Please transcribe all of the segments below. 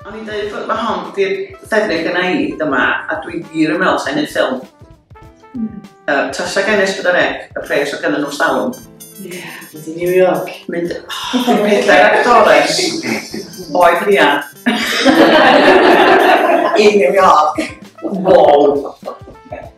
O'n i'n dweud bod mae hon di'r ffefryn gyda i dyma, a dwi'n wir yn meddwl sa'n hyn ffilm. Mm. Uh, Tasa gen es bod ec, y pres o gyda nhw'n salwm. Yeah. Mynd i New York. Mynd, oh, dwi'n pedair actores. Oed Ria. I New York. Wow.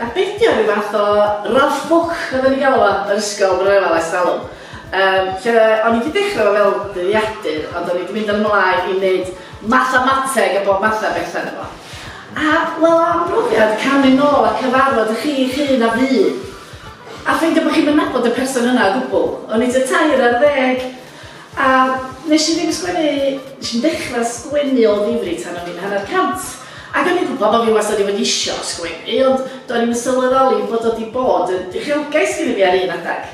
A beth 'di o, ryw fath o Ralph Book oedden ni'n galw fo yn yr ysgol pan o'n i'n chwarae ers talwm yym lle o'n i 'di dechra' fo fel dyddiadur ond o'n i 'di mynd yn ymlaen i neud mathemateg a bob math o betha ynddo fo. A wel am brofiad camu nôl a cyfarfod 'ych chi 'ych hun a fu a ffeindio bo' chi'm yn nabod y person yna o gwbwl. O'n i tua tair ar ddeg A wnes i ddim sgwennu... Wnes i'm dechrau sgwennu o ddifri tan o'n i'n hanner cant. Ac o'n i'n gwybod bod fi wastad 'di bod isio sgwennu, ond do'n i'm yn sylweddoli bod o 'di bod yn uchelgais gynna fi ar un adeg.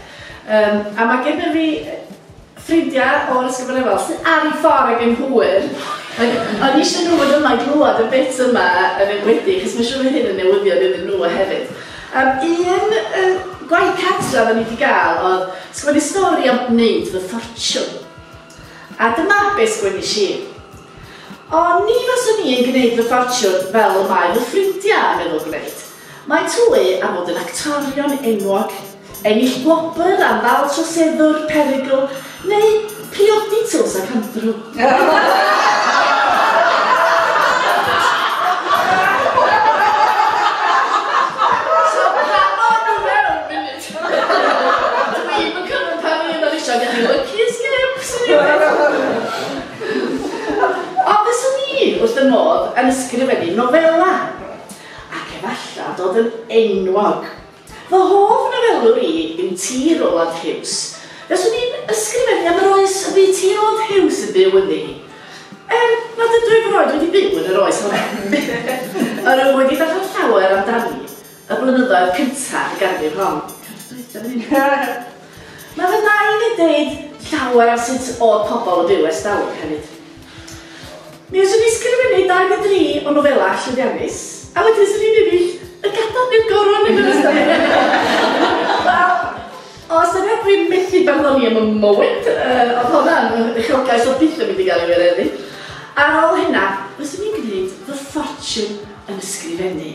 Yym, a mae genna fi ffrindiau o'r Ysgol Ganolfan sydd ar eu ffordd ag yn hwyr. Ac o'n i isio nhw fod yma i glywed y bit yma yn enwedig, achos mae'n siŵr fydd hyn yn newyddion iddyn nhw hefyd. Yr un yy gwaith cartref o'n i 'di ga'l o'dd sgwennu stori am neud fy ffortiwn. A dyma be' sgwenis i. O ni faswn i yn gneud fy ffortiwn fel y mae fy ffrindia' yn meddwl gwneud. Mae Twy am fod yn actorion enwog. Ennill gwobr am ddal troseddwr perygl neu priodi Tuws ac Andrew? wrth fy modd yn ysgrifennu nofelau, ac efallai dod yn enwog Fy hoff nofelwr i yw T. Roald Hughes. Fyswn i'n ysgrifennu am yr oes y bu T. Roald Hughes yn byw ynddi. Er nad ydw i erioed wedi byw yn yr oes honno, yr wyf wedi darllen llawer amdani y blynyddoedd cyntaf y ganrif hon. Yr wythnos dwytha fan hyn. Mae fy nain yn deud llawer am sut o'dd pobl yn byw ers dalwm hefyd. Mi fyswn i'n sgrifennu dau ne dri o nofelau llwyddiannus, a wedyn fyswn i'n ennill y Gadar neu'r Goron yn yr Eisteddfod! Wel, o ystyried dwi methu barddoni am y moment, yy o'dd honna'n uchelgais o'dd byth yn mynd i gael ei wireddu. Ar ôl hynna, fyswn i'n gwneud fy ffortiwn yn ysgrifennu.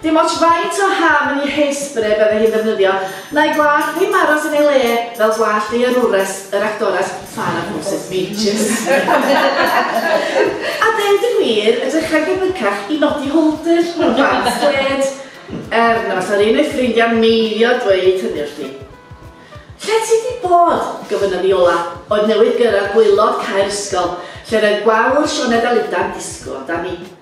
Dim ots faint o hafn i hairspray bydde hi'n ddefnyddio, na'i gwallt ddim aros yn ei le fel gwallt ei arwres, yr actores Farrah Moses Beaches. A deud y gwir, edrych ar gyfrycach i nodi hwldr mewn pants gwled, er na fasa'r un o'i ffrindiau'n meidio dweud hynny wrthi. Lle ti 'di bod? gofynnodd Viola, oedd newydd gyrraedd gwaelod cau'r ysgol, lle roedd gwawr Sioned Aluda'n disgwyl amdani.